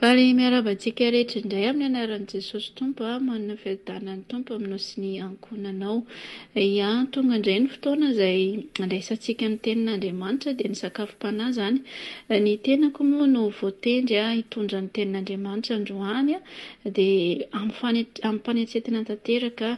Faly miarahaba antsika rehetra indray amin'ny anaran'i Jesosy Tompo a, manana fiadanan'ny Tompo aminao sy ny ankohonanao. Ya, tonga indray ny fotoana izay andraisantsika ny tenin'Andriamanitra dia ny sakafom-panahy izany. Ny tenako moa no voatendry a hitondra ny tenin'Andriamanitra androany dia amim-fane- amim-panetsetena tanteraka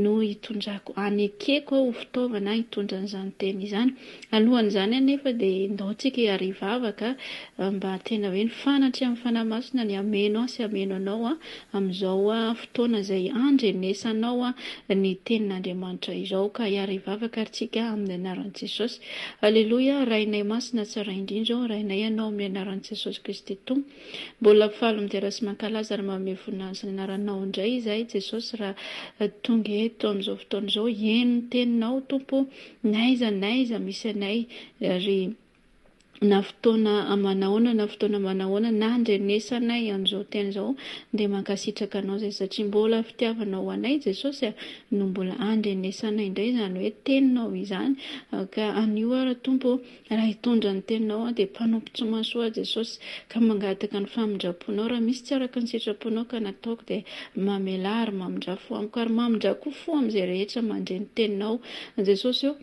no hitondrako, hanekeko aho ho fitaovana hitondra an'izany teny izany. Alohan'izany anefa dia endaontsika hiary hivavaka mba tena hoe ny fanatry amin'ny Fanahy Masina ny hameno ahy sy hameno anao amin'izao fotoana izay andrenesanao ny Tenin'Andriamanitra izao. Ka hiary hivavaka ary tsika amin'ny anaran'i Jesosy. Aleloia, Rainay Masina tsara indrindra ô, Rainay Ianao amin'ny anaran'i Jesosy Kristy Tompo. Mbola faly midera sy mankalaza ary manome voninahiny sy ny anaranao indray izahay Jesosy raha tonga eto amin'izao fotoana izao. Heno ny Teninao Tompo o. N'aiza n'aiza misy anay ry na fotoana manahoana na fotoana manahoana nandrenesanay an'izao teny izao dia mankasitraka anao izay satria mbola fitiavanao ho anay Jesosy a no mbola andrenesanay indray izany hoe teninao izany ka anio ara Tompo Raha hitondra ny teninao aho, dia mpanompo tsy mahasoa ahy Jesosy, ka mangataka ny famindram-ponao, raha misy tsy araka ny sitraponao ka nataoko, dia mamelà ary mamindrà fo amiko, ary mamindrà koa fo amin'izay rehetra mandre ny teninao Jesosy ô,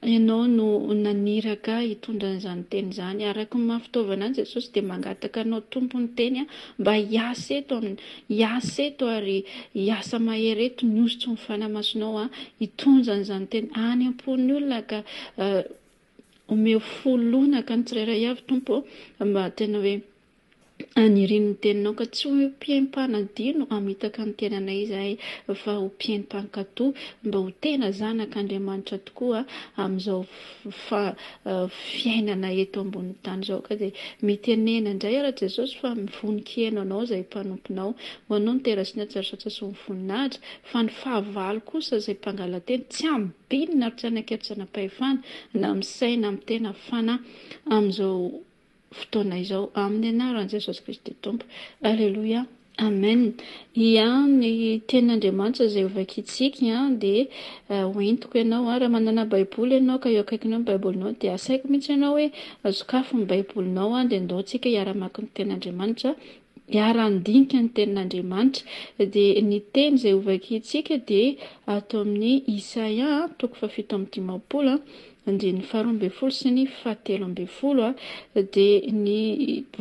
Ianao no naniraka ahy hitondra an'izany teny izany, araka ny maha fitaovana ahy Jesosy, dia mangataka Anao Tompo ny teny aho mba hiasa eto amin'ny hiasa eto ary hiasa mahery eto, ny hosotsy ny fanahy masonao aho hitondra an'izany teny any am-pon'ny olona ka Omeo fo lonaka ny tsirairay avy, Tompo ô, mba tena hoe haniriany ny Teninao, ka tsy ho mpihem-panadino hamitaka ny tenanay izahay, fa ho mpihem-pankato, mba ho tena zanak' Andriamanitra tokoa amin'izao fiainana eto ambonin'ny tany izao. Ka dia mitenena indray aho, Ra Jesosy, fa mivonon-kiheno Anao izay mpanomponao. Ho Anao ny tena sy ny hatsarotsatsa sy ny voninahitra, fa ny fahavalo kosa izay mpangalateny tsy ambinina ary tsy anaketsana-pahefana na misaina na mitena fana amin'izao fotoana izao amin'ny anaran'i Jesosy Kristy Tompo. Aleloia. Amen. Ia, ny tenin'Andriamanitra izay hovakintsika dia eh, hoentiko ianao. Ah, raha manana Baiboly ianao ka eo akaikinao ny Baibolinao dia asaiko mihitsy ianao hoe sokafy ny Baibolinao dia ndao tsika hiara-maky ny tenin'Andriamanitra miara-handinika ny Tenin'Andriamanitra. Dia ny teny izay hovakintsika dia ato amin'ny Isaia toko fahafito amby dimampolo andininy faharoa ambin'ny folo sy ny fahatelo ambin'ny folo. Dia ny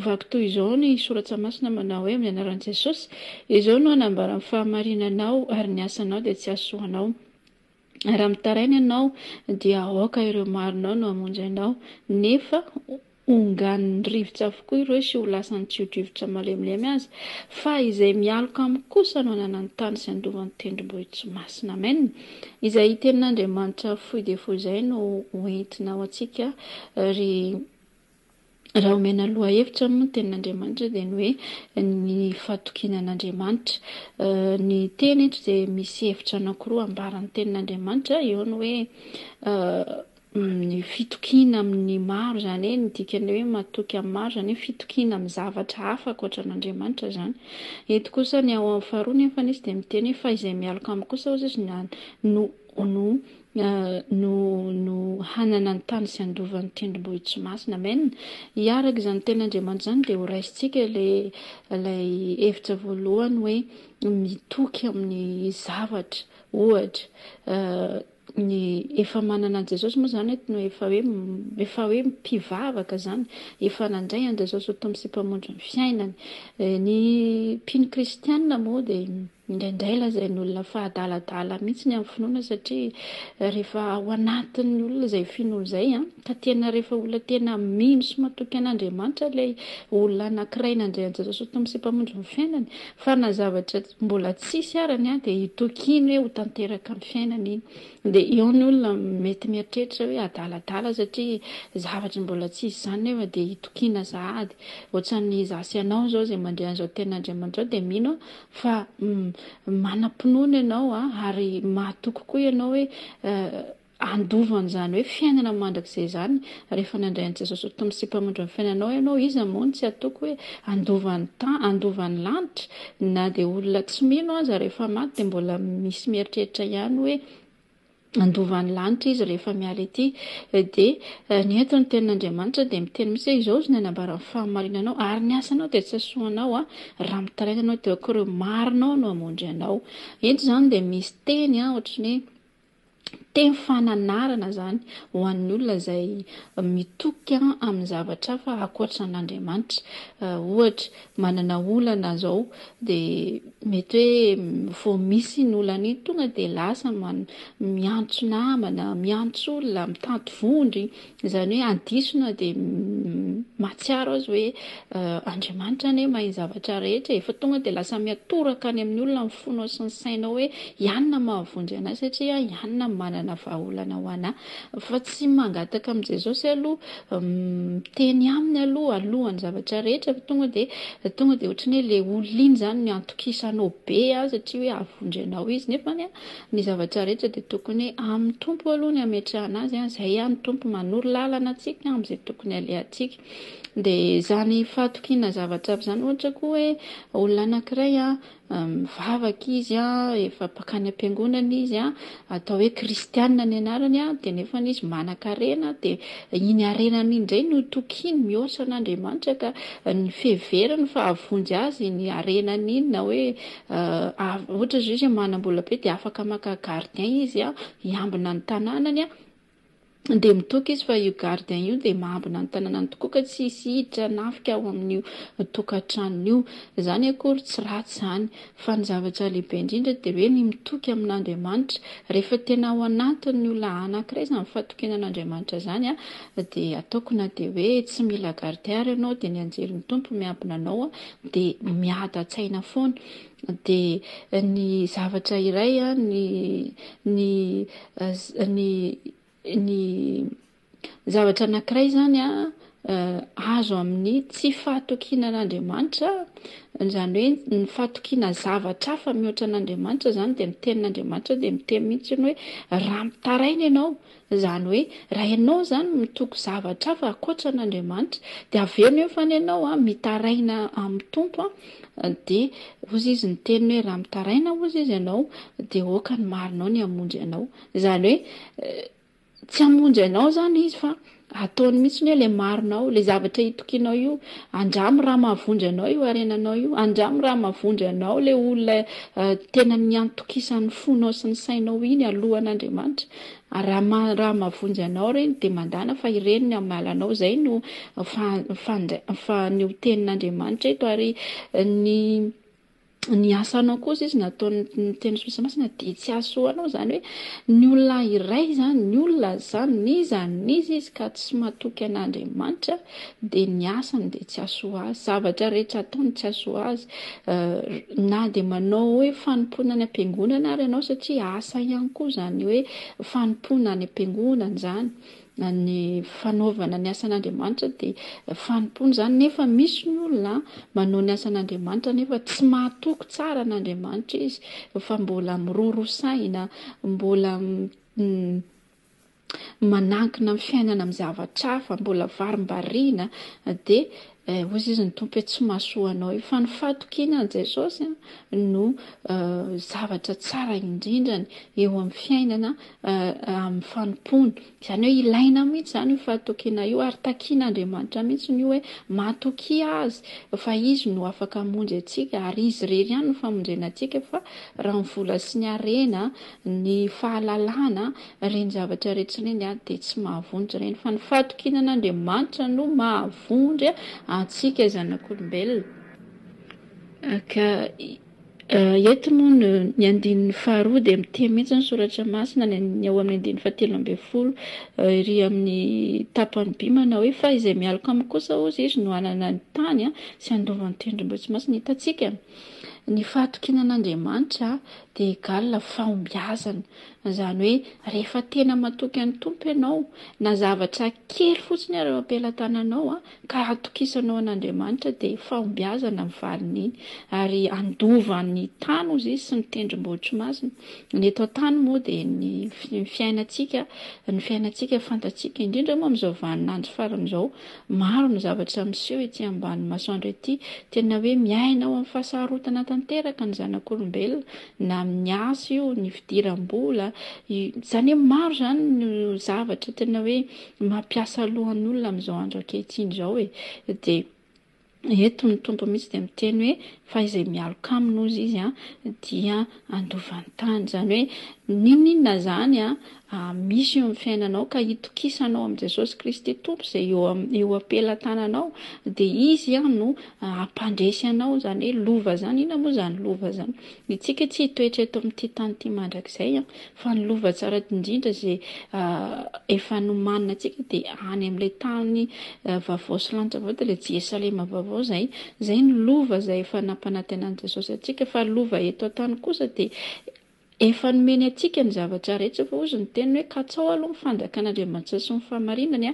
vaky toy izao ny Soratra Masina manao hoe, Amin'ny anaran'i Jesosy, izao no hanambara ny fahamarinanao ary ny asanao dia tsy hahasoa anao. Raha mitaraina ianao, dia aoka ireo marinao no hamonjy anao, nefa honganin'ny rivotra avokoa ireo sy ho lasan'ny tsio-drivotra malemilemy aza, fa izay mialoka amiko kosa no hanana ny tany sy handova ny tendrombohitro masina. Amen. Izay tenin'Andriamanitra fohy dia fohy izay no ho entina ho antsika ry. Raha omena lohahevitra moa ny tenin'Andriamanitra dia ny hoe ny fahatokiana an'Andriamanitra. Ny teny eto dia misy hevitra anankiroa ambara ny tenin'Andriamanitra, eo ny hoe ny fitokiana amin'ny maro, izany hoe ny dikan'ny hoe matoky amin'ny maro, izany hoe fitokiana amin'ny zavatra hafa ankoatra an'Andriamanitra izany. Eto kosa ny ao amin'ny faharoa nefany izy dia miteny hoe fa izay mialoka amiko kosa hozy izy no Ono no no hanana ny tany sy handova ny tendrombohitry masina. Amen. I araka izany teny Andriamanitra izany dia ho raisintsika ilay ilay hevitra voalohany hoe mitoky amin'ny zavatra. Ohatra ny efa manana an'i Jesosy moa izany eto no efa hoe efa hoe mpivavaka izany, efa nandray an'i Jesosy ho Tompo sy Mpamondro ny fiainany. Ny mpino kristianina moa dia Indraindray lazain'ny olona fa adaladala mihitsy ny amin'ny finoana satria rehefa ao anatin'ny olona izay finoana izay ka tena rehefa olona tena mino sy matoky an'Andriamanitra ilay olona anankiray nandray an'i Jesosy ho Tompo sy Mpamonjy ny fiainany fa na zavatra mbola tsisy ara ny dia hitoky iny hoe ho tanteraka ny fiainany iny dia eo ny olona mety mieritreritra hoe adaladala satria zavatra mbola tsisy izany nefa dia hitokiana sahady ohatran'ny za sy ianao izao izay mandre an'izao tenin'Andriamanitra izao dia mino Fa manam-pinoana ianao ary mahatoky koa ianao hoe handova an'izany hoe fiainana mandrakizay izany rehefa nandray an'i Jesosy ho Tompo sy Mpamondro ny fiainanao ianao. Iza moa no tsy hatoky hoe handova ny tany, handova ny lanitra? Na dia olona tsy mino aza rehefa maty dia mbola misy mieritreritra ihany hoe Handova ny lanitra Izy rehefa miala ety. Dia ny eto ny tenin'Andriamanitra dia miteny mihitsy hoe izao izany ambaran'ny fahamarinanao ary ny asanao dia tsy hasoanao raha mitaraina ianao teo ankorin'ny marinao no hamondry anao. Eto izany dia misy teny ohatran'ny hoe teny fananarana izany ho an'ny olona izay mitoky amin'ny zavatra hafa ankoatran'Andriamanitra. Ohatra, manana olana izao dia mety hoe vao misy iny olana iny tonga dia lasa miantso namana, miantso olona, mitady vondro, izany hoe adisona dia mahatsiaro azy hoe Andriamanitra anie mahay ny zavatra rehetra e, fa tonga dia lasa miatoraka any amin'ny olona ny fonao sy ny sainao hoe i anona mahavonjy anahy satria i anona manana vahaolana ho anahy, Fa tsy mangataka amin'i Jesosy aloha, miteny aminy aloha alohan'ny zavatra rehetra fa tonga dia tonga dia ohatran'ny hoe ilay olona iny izany no iantokisanao be an, satria hoe havondry anao izy, nefany an, ny zavatra rehetra dia tokony amin'ny Tompo aloha ny hametrahana azy an, izay an ny Tompo manoro lalana antsika amin'izay tokony halehantsika. Dia izany fahatokiana zavatra aby izany ohatra koa hoe olona anankiray an, mivavaka izy efa bakany ampiangonana izy atao hoe kristianina ny anarany dia nefany izy manankarena dia iny harenany iny indray no tokiny mihoatra an'Andriamanitra ka ny fiheverany fa havonjy azy iny harenany iny na hoe ohatra izao izy manam-bola be dia afaka maka gardien izy hiambina ny tanànany dia mitoky izy fa io gardien io dia mahambina ny tananany tokoa ka tsy hisy hiditra hanafika ao amin'io tokantranony io. Izany akory tsy ratsy izany, fa ny zavatra lehibe indrindra dia hoe ny mitoky amin'Andriamanitra. Rehefa tena ao anatin'ny olona anankiray izany fahatokiana an'Andriamanitra izany dia ataoko na dia hoe tsy mila gardien ary ianao dia ny anjelin'ny Tompo miambina anao dia miadatsaina foana. dia ny zavatra iray ny ny ny ny zavatra anankiray izany a azo amin'ny tsy fahatokiana an'Andriamanitra, izany hoe ny fahatokiana zavatra hafa mihoatra an'Andriamanitra izany dia ny tenin'Andriamanitra dia miteny mihitsy hoe raha mitaraina ianao Izany hoe raha ianao izany mitoky zavatra hafa ankoatra an'Andriamanitra dia avela eo fa ny anao an mitaraina amin'ny Tompo an dia hozy Izy ny teniny hoe raha mitaraina hozy Izy ianao dia aoka ny marinao ny hamonjy anao. Izany hoe tsy hamonjy anao izany Izy fa ataony mihitsy ny hoe ilay marinao, ilay zavatra itokianao io, andramo raha mahavonjy anao io harenanao io, andramo raha mahavonjy anao ilay olona tena niantokisan'ny fonao sy ny sainao iny alohan'Andriamanitra Raha mahavonjy anao ireny dia mandàna fa ireny ny hamaly anao. Izay no ny tenin'Andriamanitra eto. Ary ny asanao kosa izy nataon'ny teny soa sy masina dia tsy hahasoa anao. Izany hoe ny olona iray izany, ny olona izany, n'iza n'iza izy ka tsy matoky an'Andriamanitra dia ny asany dia tsy hahasoa azy, zavatra rehetra ataony tsy hahasoa azy, na dia manao hoe fanompoana any am-piangonana ary ianao, satria asa ihany koa izany hoe fanompoana any am-piangonana izany, na ny fanaovana ny asan'Andriamanitra dia fanompoana izany, nefa misy ny olona manao ny asan'Andriamanitra nefa tsy mahatoky tsara an'Andriamanitra izy, fa mbola miroro saina, mbola manankina amin'ny fiainana amin'ny zavatra hafa, mbola varimbariana, dia hoy izy ny Tompo hoe tsy mahasoa anao io, fa ny fahatokiana an'i Jesosy no zavatra tsara indrindrany eo amin'ny fiainana amin'ny fanompoana, izany hoe ilaina mihintsy izany io fahatokiana io, ary takian'Andriamanitra mihintsy io hoe mahatokia Azy fa Izy no afaka hamonjy antsika, ary Izy irery ihany no famonjena antsika, fa raha ny vola sy ny harena, ny fahalalana, Ireny zavatra iretsy ireny dia tsy mahavonjy ireny fa ny fahatokiana an'Andriamanitra no mahavonjy antsika zanak'olombelona. Ka eto moa ny andininy faharoa dia miteny mihitsy ny soratra masina ny ao amin'ny andininy fahatelo ambin'ny folo ery amin'ny tapany by manao hoe fa izay mialoka aminy kosa hozy izy no hanana ny tany sy handova ny tendrombohitsy masina hitantsika ny fahatokiana an'Andriamanitra dia egal fahombiazana Izany hoe rehefa tena matoky an'ny Tompo ianao, na zavatra kely fotsiny ary eo am-pelatananao ka atokisanao an'Andriamanitra dia fahombiazana ny valin'iny ary handova ny tany hozy Izy sy ny tendrombohitry masina. Ny eto an-tany moa dia ny fiainantsika, ny fiainantsika fantatsika, indrindra moa amin'izao vanin'andro farany izao, maro ny zavatra miseho ety ambany masoandro ety, tena hoe miaina ao amin'ny fahasarotana tanteraka ny zanak'olombelona, na amin'ny asa io, ny fidiram-bola, izany hoe maro izany no zavatra tena hoe mampiasa lohan'olona amin'izao andro ankehitriny izao e, dia eto ny Tompo mihitsy dia miteny hoe fa izay mialoka aminy hozy izy dia handova ny tany, izany hoe n'inon'inona izany Amin' misy eo amin' ny fiainanao ka itokisanao amin' i Jesosy Kristy Tompo izay eo amin' eo am-pelatananao dia Izy no hampandresy anao izany hoe lova izany, inona moa izany lova izany? Itsika tsy hitoetra eto amin' ity tany ity mandrakizay an! fa ny lova tsara indrindra izay efa nomanina antsika dia any amin' ilay tany vaovao sy lanitra vaovao dia ilay Jerosalema vaovao izay, izay no lova izay efa nampanantenan' i Jesosy antsika fa lova eto an-tany kosa dia Efa nomeny antsika ny zavatra rehetra fa hozy ny teniny hoe katsao aloha ny fanjakan'Andriamanitra sy ny fahamarinany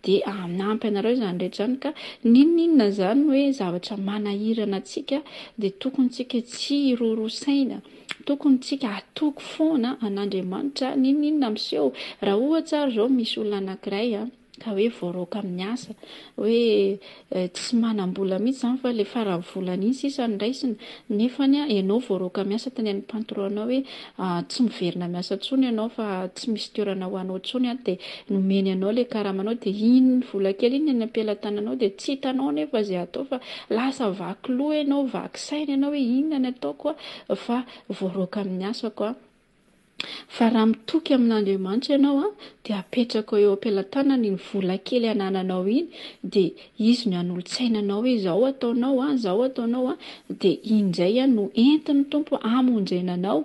dia hanampy anareo izany rehetra izany ka n'inon'inona izany hoe zavatra manahirana antsika dia tokony tsika tsy hiroro saina tokony tsika hatoky foana an'Andriamanitra n'inon'inona miseho raha ohatra ary izao misy olona anankiray ka hoe voaroaka amin'ny asa, hoe tsy manam-bola mihitsy izany fa ilay faran'ny volana iny sisa no raisina, nefa ianao voaroaka amin'ny asa teny amin'ny patron-nao hoe tsy miverina miasa intsony ianao fa tsy misy toerana ho anao intsony, dia nomeny anao ilay karamanao dia iny vola kely iny no any am-pelatananao dia tsy hitanao anefa izay hatao fa lasa vaky loha ianao, vaky saina ianao hoe inona no ataoko fa voaroaka amin'ny asako aho. Fa raha mitoky amin'Andriamanitra ianao dia apetrako eo am-pelatanany iny vola kely anananao iny dia Izy no hanolo-tsaina anao izao ataonao an, izao ataonao an, dia iny indray an no entin'ny Tompo hamonjena anao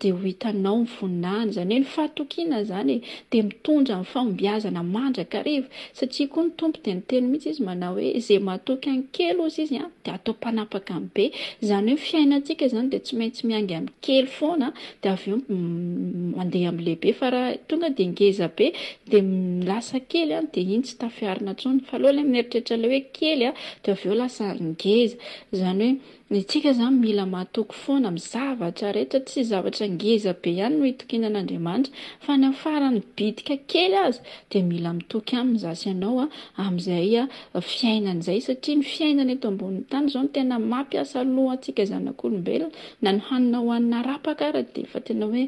dia ho hitanao ny voninahiny, izany hoe ny fahatokiana izany e, dia mitondra ny fahombiazana mandrakariva, Satria koa ny Tompo dia niteny mihitsy Izy manao hoe izay matoky an'ny kely ozy Izy dia atao mpanapaka amin'ny be. Izany hoe ny fiainantsika izany dia tsy maintsy miainga amin'ny kely foana dia avy eo mandeha amin'ny lehibe fa raha tonga dia ngeza be dia lasa kely dia iny tsy tafiarina intsony fa aleo ilay mieritreritra ilay hoe kely dia avy eo lasa ngeza. Izany hoe. Ny antsika izany mila matoky foana amin'ny zavatra rehetra, tsy zavatra ngeza be ihany no hitokiana an'Andriamanitra fa ny amin'ny faran'ny bitika kely aza dia mila mitoky aminy za sy ianao amin'izay fiainana izay satria ny fiainana eto ambonin'ny tany izao no tena mampiasa loha antsika zanak'olombelona na ny hanina hohanina arapaka ara dia efa tena hoe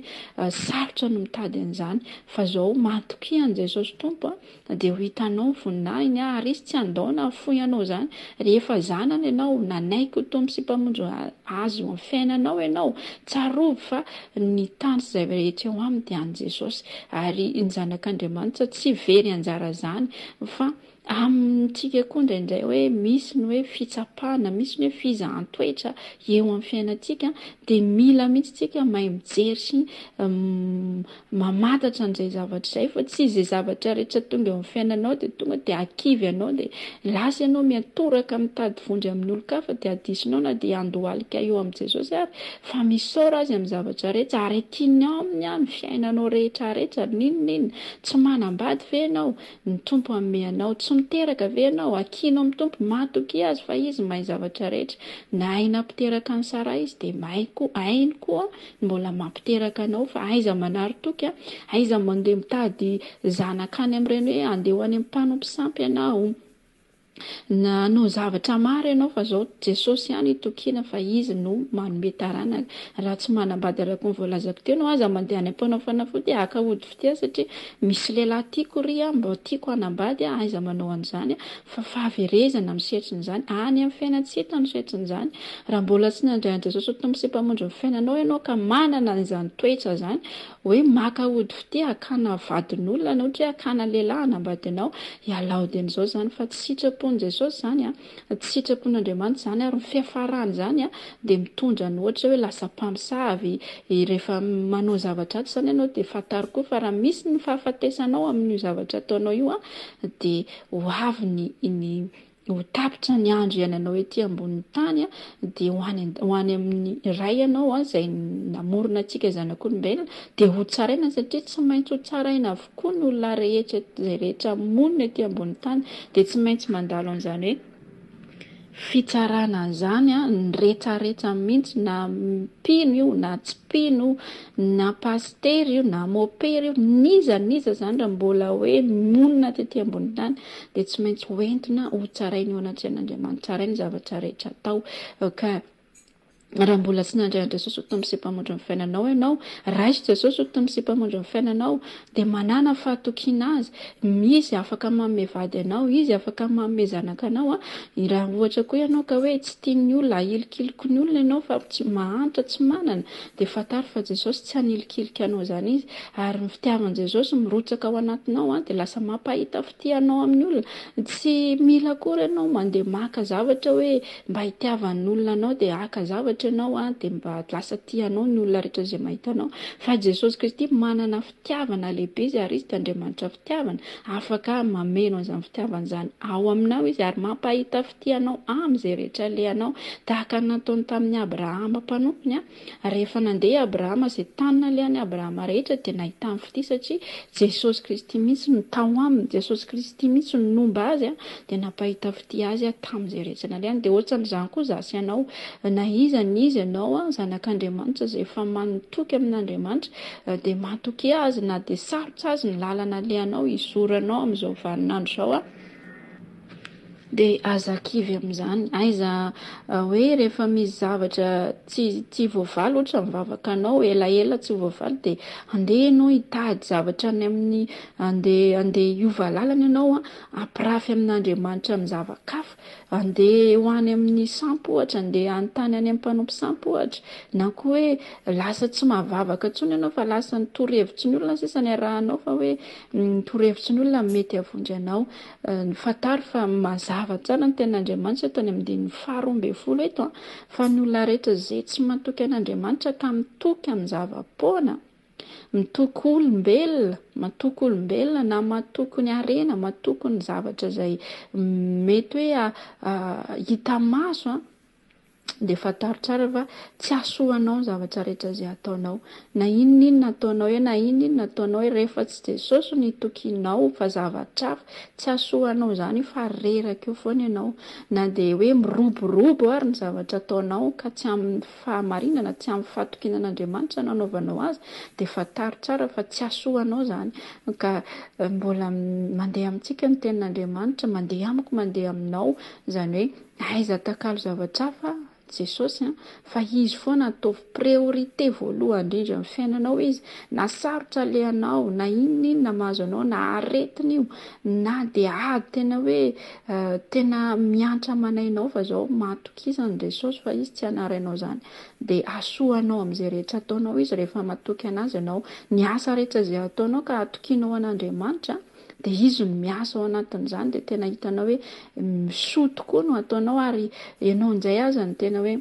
sarotra ny mitady an'izany fa izao matokia an'i Jesosy Tompo a! Dia ho hitanao ny voninahiny ary izy tsy handao na hafoy anao izany. Rehefa zanany ianao, nanaiky ho Tompo sy Mpamonjy Azy eo amin'ny fiainanao ianao, tsarovy fa ny tany sy izay rehetra eo aminy dia an'i Jesosy. Ary ny Zanak'Andriamanitra tsy very anjara izany fa amintsika koa indraindray hoe misy ny hoe fitsapana, misy ny hoe fizahan-toetra eo amin'ny fiainantsika dia mila mihitsy isika mahay mijery sy mamantatra an'izay zavatra izay fa tsy izay zavatra rehetra tonga eo amin'ny fiainanao dia tonga dia hakivy anao dia lasa ianao miantoraka mitady vonjy amin'olon-kafa dia adisonao na dia handohalika eo amin'i Jesosy ary fa misaora azy amin'ny zavatra rehetra ary tiany aminy aho ny fiainanao rehetra rehetra n'inon'inona tsy manambady ve ianao ny Tompo hanome anao tsy miteraka ve ianao hakianao amin'ny Tompo matokia azy fa izy mahay zavatra rehetra nahay nampiteraka an'i Sara izy dia mahay koa hainy koa Mbola mampiteraka anao fa aiza manary toky a! Aiza mandeha mitady zanaka any amin'ireny hoe andeha ho any amin'ny mpanompo sampy ianao. Nanao zavatra maro ianao fa izao Jesosy ihany itokiana fa Izy no manome taranaka. Raha tsy manambady araka ny voalazako teo ianao aza mandeha any am-panao fanafody haka ody fitia satria misy lehilahy tiako ry a, mba tiako hanambady a, aiza manao an'izany a! fa fahaverezana amin'ny setrin'izany, any amin'ny fiainan-tsita amin'ny setrin'izany, raha mbola tsy nandray an'i Jesosy ho Tompo sy Mpamondron'ny fiainanao ianao ka manana an'izany toetra izany hoe maka ody fitia hakana vadin'olona na ohatra hoe hakana lehilahy hanambadinao, ialao dieny izao izany fa tsy sitrapon'i Jesosy izany an, tsy sitrapon'Andriamanitra izany ary ny fiafarany izany an dia mitondra ny ohatra hoe lasa mpamosavy, rehefa manao zavatra atsy izany ianao dia fantaro koa fa raha misy ny fahafatesanao amin'io zavatra ataonao io an dia Ho avy ny ny ho tapitra ny andro iainanao ety ambonin'ny tany dia ho any ho any amin'ny Ray ianao izay namorona antsika zanak'olombelona dia ho tsaraina satria tsy maintsy ho tsaraina avokoa ny olona rehetra izay rehetra monina ety ambonin'ny tany dia tsy maintsy mandalo an'izany hoe fitsarana an'izany an, ny retraretra mihitsy na mpino io na tsy mpino io, na pasitera io na mopera io, n'iza n'iza izany raha mbola hoe monina tety ambony tany dia tsy maintsy hoentina hotsaraina eo anatrehan'Andriamanitra izahay ny zavatra rehetra atao ka Raha mbola tsy nandray an'i Jesosy ho Tompo sy Mpamondro ny fiainanao ianao, raiso Jesosy ho Tompo sy Mpamondro ny fiainanao, dia manàna fahatokiana Azy. Izy afaka manome vady anao, Izy afaka manome zanaka anao. Raha ohatra koa ianao ka hoe tsy tian'ny olona, ahilikiliko ny olona ianao fa tsy mahantra, tsy manana, dia fantaro fa Jesosy tsy hanilikilika anao izany Izy. Ary ny fitiavan'i Jesosy mirotsaka ao anatinao dia lasa mampahita tianao amin'ny olona. Tsy mila akory ianao mandeha maka zavatra hoe mba hitiavan'ny olona anao dia haka zavatra ianao an, dia mba lasa tia anao ny olona rehetra izay mahita anao. Fa Jesosy Kristy manana fitiavana lehibe izy ary izy dia Andriamanitra fitiavana, afaka mameno an'izany fitiavana izany ao aminao izy ary mampahita fitia anao amin'izay rehetra alehanao, tahaka ny nataony tamin'i Abrahama mpanompony an, Ary rehefa nandeha i Abrahama, izay tany nalehan'i Abrahama rehetra dia nahitany fitia satria Jesosy Kristy mihitsy no tao aminy, Jesosy Kristy mihitsy no nomba azy dia nampahita fitia azy tamin'izay rehetra nalehany. Dia ohatran'izany koa izaho sy ianao, na iza na iza ianao, zanak'Andriamanitra izay efa matoky amin'Andriamanitra, dia matokia Azy na dia sarotra azy ny lalana alehanao, izoro anao amin'izao vanin'andro izao. Dia aza kivy amin'izany. Aiza hoe rehefa misy zavatra tsy tsy voavaly ohatra ny vavakanao, elaela tsy voavaly dia andeha ianao hitady zavatra any amin'ny, andeha andeha hiova lalana ianao a, ampirafy amin'Andriamanitra amin'ny zava-kafa, andeha ho any amin'ny sampy ohatra, andeha hanontany any amin'ny mpanompo sampy ohatra, na koa hoe lasa tsy mahavavaka intsony ianao fa lasa ny torohevitry ny olona sisa no iarahanao fa hoe ny torohevitry ny olona no mety havondro anao. Fantaro fa mazava tsara ny tenin'Andriamanitra eto any amin'ny andininy faharoa ambin'ny folo eto fa ny olona rehetra izay tsy matoky an'Andriamanitra ka mitoky amin'ny zava-poana, mitoky olombelona, matoky olombelona na matoky ny harena, matoky ny zavatra izay mety hoe hita maso, Dia fantaro tsara fa tsy hahasoa anao ny zavatra rehetra izay ataonao. Na inon'inona ataonao eo, na inon'inona ataonao eo, rehefa tsy Jesosy no itokianao fa zavatra hafa, tsy hahasoa anao izany io fa reraka eo foana ianao. Na dia hoe miroborobo ary ny zavatra ataonao ka tsy amin'ny fahamarinana, tsy amin'ny fahatokiana an'Andriamanitra no anaovanao azy, dia fantaro tsara fa tsy hahasoa anao izany. Ka mbola mandeha amintsika ny Tenin'Andriamanitra, mandeha amiko, mandeha aminao, izany hoe, Aiza atakalo zavatra hafa Jesosy an, fa Izy foana ataovy priorité voalohany indrindra amin'ny fiainanao Izy, na sarotra alehanao, na inona inona mahazo anao, na aretina io, na dia ady tena hoe tena miantra aman'ainao fa zao matokisa an'i Jesosy fa Izy tsy hanarainao izany, dia hahasoa anao amin'izay rehetra ataonao Izy rehefa matoky Anazy ianao, ny asa rehetra izay ataonao ka atokianao an'Andriamanitra, dia izy no miasa ao anatin'izany dia tena hitanao hoe soa tokoa no ataonao ary ianao injay aza no tena hoe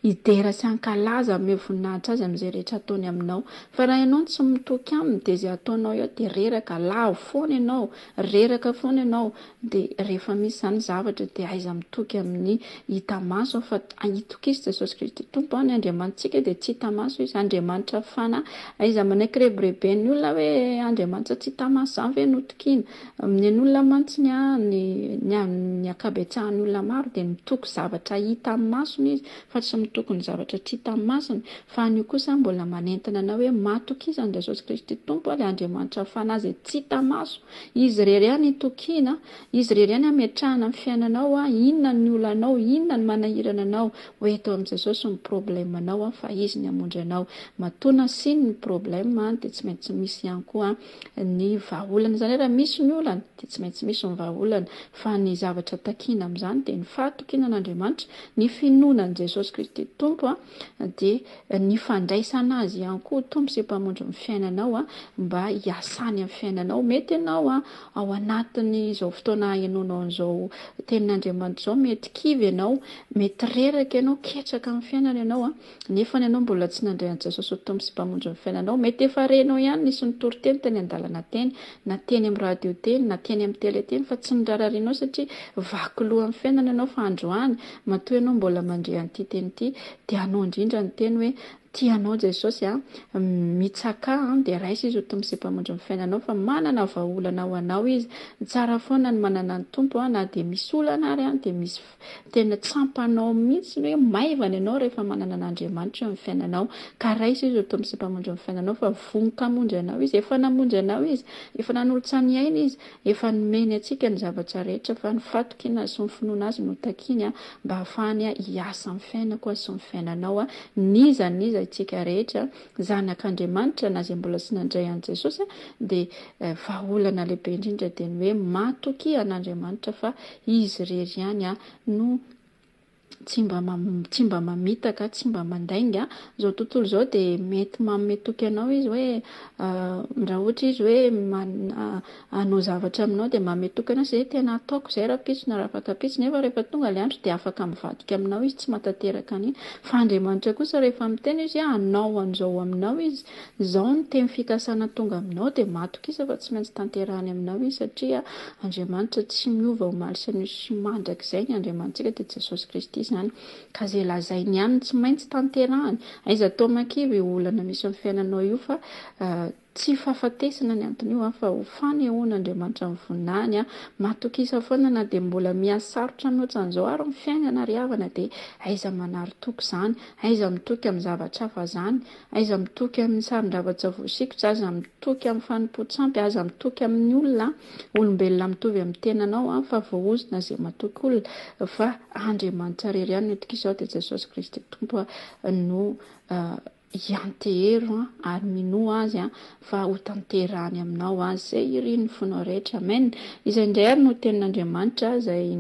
hidera sy hankalaza amin'io voninahitra azy amin'izay rehetra ataony aminao fa raha ianao tsy mitoky aminy dia izay ataonao eo dia reraka lavo foana ianao reraka foana ianao Dia rehefa misy izany zavatra dia aiza mitoky amin'ny hita maso aho fa itokisa Jesosy Kristy Tompo aho, ny Andriamanitsika dia tsy hita maso izy, Andriamanitra Fanahy, aiza manaiky rebireben'ny olona hoe Andriamanitsa tsy hita maso izany ve no tokiana, amin'ny an'olona mantsy ny an'ny ny an'ny ankabetsahan'ny olona maro dia mitoky zavatra hita amin'ny masony izy fa tsy mitoky ny zavatra tsy hita amin'ny masony, fa an'io kosa mbola manentana anao hoe matokisa an'i Jesosy Kristy Tompo aho, ilay Andriamanitra Fanahy izay tsy hita maso, Izy irery ihany itokiana, Izy irery ihany ametrahana ny fiainanao, inona ny olanao, inona ny manahirana anao, ho eto amin'i Jesosy ny problème anao fa Izy ny hamonjy anao. Matoa nasiany ny problème dia tsy maintsy misy ihany koa ny vahaolana, izany hoe raha misy ny olana dia tsy maintsy misy ny vahaolana, fa ny zavatra takiana amin'izany dia ny fahatokiana an'Andriamanitra, ny finoana an'i Jesosy Kristy Tompo, dia ny fandraisana azy ihany koa ho Tompo sy Mpamonjy ny fiainanao mba hiasany amin'ny fiainanao. Mety ianao ao anatin'izao fotoana ahenoanao an'izao tenin'Andriamanitra izao mety kivy ianao, mety reraka ianao, ketraka amin'ny fiainana ianao nefa ianao mbola tsy nandray an'i Jesosy ho Tompo sy Mpamonjy ny fiainanao. Mety efa renao ihany nisy nitory teny tany an-dalana teny, na teny amin'ny radio teny, na teny amin'ny tele teny fa tsy norararinao satria vaky loha amin'ny fiainana ianao fa androany Matoa ianao mbola mandre an'ity teny ity, dia anao indrindra ny teny hoe, Tia anao Jesosy a, mitsakà a, dia raiso Izy ho Tompo sy Mpamondro ny fiainanao, fa manana vahaolana ho anao Izy. Tsara foana ny manana ny Tompo a, na dia misy olana ary a, dia misy tena tsampanao mihitsy ny hoe maivana ianao rehefa manana an'Andriamanitra eo amin'ny fiainanao. Ka raiso Izy ho Tompo sy Mpamondro ny fiainanao, fa vonon-kamonjy anao Izy. Efa namonjy anao Izy. Efa nanolotsaha ny ainy Izy. Efa nomeny antsika ny zavatra rehetra fa ny fatoky ny nahasoa ny finoana azy no takiany mba hahafahany hiasa amin'ny fiainako sy ny fiainanao n'iza n'iza itsika rehetra zanak'Andriamanitra na izay mbola tsy nandray an'i Jesosy dia vahaolana lehibe indrindra dia ny hoe matokia an'Andriamanitra fa izy irery ihany no tsy mba tsy mba mamitaka, tsy mba mandainga. Izao tontolo izao dia mety manome toky anao izy hoe raha ohatra izy hoe hanao zavatra aminao dia manome toky anao, izay tena ataoko izay rahampitso na rafakapitso, nefa rehefa tonga ilay andro dia afaka mivadika aminao izy tsy matateraka an'iny. Fa Andriamanitra kosa rehefa miteny izy hoe hanao an'izao aminao izy Izao ny teny fikasana tonga aminao dia matokisa fa tsy maintsy tanterahany aminao izy satria Andriamanitra tsy miova omaly sy anio sy mandrakizay ny Andriamanitsika dia Jesosy Kristy izany ka izay lazainy ihany no tsy maintsy tanterahany aiza toa makivy io olana misy amin'ny fiainanao io fa tsy fahafatesana ny anton'io an fa ho fanehoan' Andriamanitra ny voninahiny an matokisa foana na dia mbola mihasarotra ny otsan'izao ary ny fiainana ry havana dia aiza manary toky izany aiza mitoky amin'ny zavatra hafa izany Aiza mitoky amin'ny saron-javatra voasikotra, aza mitoky amin'ny fanompoan-tsampy, aza mitoky amin'ny olona, olombelona mitovy amin'ny tenanao, fa voahozona izay matoky olona, fa Andriamanitra rery ihany no itokisao, dia Jesosy Kristy Tompo no iantehero ary minoa Azy fa hotanterahany aminao Azy izay irin'ny fonao rehetra. Amen! Izay indray ary no tenin'Andriamanitra izay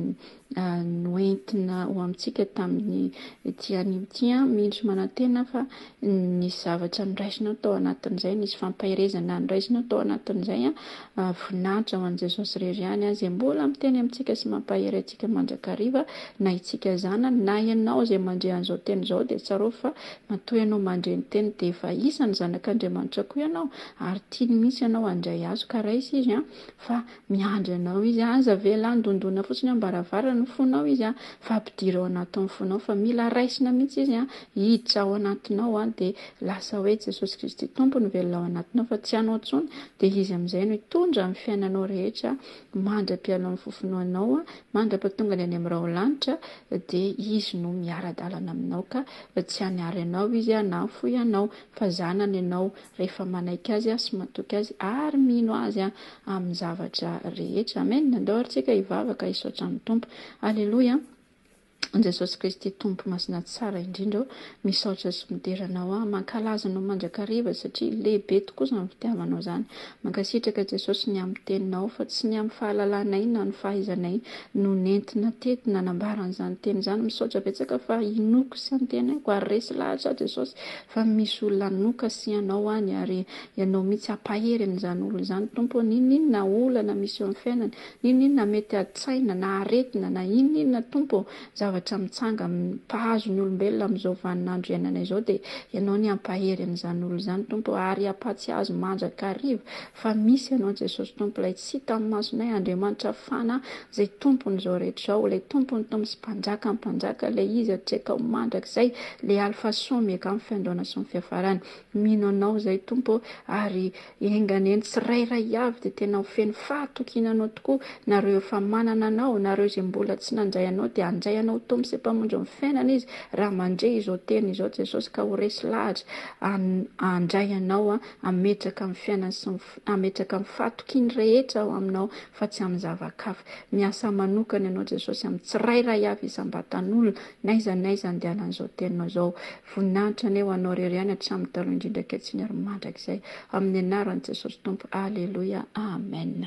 noentina ho amintsika tamin'ity anio ity. Mendrika manantena fa nisy zavatra noraisinao tao anatin'izay, nisy fampaherezana noraisinao tao anatin'izay. Voninahitra ho an'i Jesosy irery ihany, izay mbola miteny amintsika sy mampahery antsika mandrakariva, na isika zanany, na ianao izay mandre an'izao teny izao, dia tsarovy fa matoa ianao mandre ny teniny, dia efa isan'ny zanak'Andriamanitra koa ianao, ary tiany mihitsy ianao handray Azy, ka raiso Izy fa Miandry anao izy an! Aza avela handondona fotsiny am-baravarana ny fonao izy an! Fa ampidiro ao anatin'ny fonao fa mila raisina mihitsy izy an! Hiditra ao anatinao an! Dia lasa hoe Jesosy Kristy Tompo no velona ao anatinao fa tsy anao intsony, dia Izy amin'izay no hitondra ny fiainanao rehetra mandra-piala amin'ny fofonoanao an! Mandra-patongany any amin'ny raholanitra dia Izy no miara-dalana aminao ka! Tsy hanary anao izy an! Nahafoy anao fa zanany ianao rehefa manaiky Azy sy matoky Azy ary mino Azy amin'ny zavatra rehetra. Amen! Andao ary tsika hivavaka hisaotra amin'ny Tompo. Aleloia! Jesosy Kristy Tompo Masina Tsara indrindra ô, misaotra sy midera Anao aho. Mankalaza Anao mandrakariva satria lehibe tokoa izany fitiavanao izany. Mankasitraka Jesosy ny amin'ny Teninao fa tsy ny amin'ny fahalalanay na ny fahaizanay no nentina teto nanambara an'izany Teny izany. Misaotra betsaka fa inoako sy antenaiko ary resy lahatra aho Jesosy Fa misy olona hanoka sy hanao any ary ianao mihitsy hampahery an'izany olona izany Tompo ô, n'inon'inona olana misy eo amin'ny fiainany, n'inon'inona mety aditsaina na aretina na inon'inona Tompo ô, zavatra mitsanga mpahazo ny olombelona amin'izao vanin'andro iainana izao dia ianao ny hampahery an'izany olona izany Tompo ô, ary hampatsiazo mandrakariva Fa misy ianao Jesosy Tompo ilay tsy hita amin'ny masonay Andriamanitra fana izay Tompon'izao rehetra izao ilay Tompon'ny Tompo sy Mpanjakan'ny Mpanjaka ilay izy hatrizay tao mandrakizay ilay alfa sy omega amin'ny fiandohana sy ny fiafarany mino anao izay Tompo ary enga anie ny tsirairay avy dia tena ho feno fahatokiana anao tokoa nareo efa manana anao nareo izay mbola tsy nandray anao dia handray anao ho Tompo sy Mpamonjy ny fiainana izy raha mandre izao teny izao Jesosy ka ho resy lahatra handray anao Hametraka ny fiainany sy ny hametraka ny fahatokiany rehetra ao Aminao fa tsy amin'ny zava-kafa. Miasa manokana Ianao Jesosy amin'ny tsirairay avy isam-batan'olona n'aiza n'aiza andehanan'izao Teninao izao. Voninahitra anie ho Anao irery ihany hatramin'ny taloha indrindra ankehitriny ary mandrakizay. Amin'ny anaran'i Jesosy Tompo. Aleloia. Amen.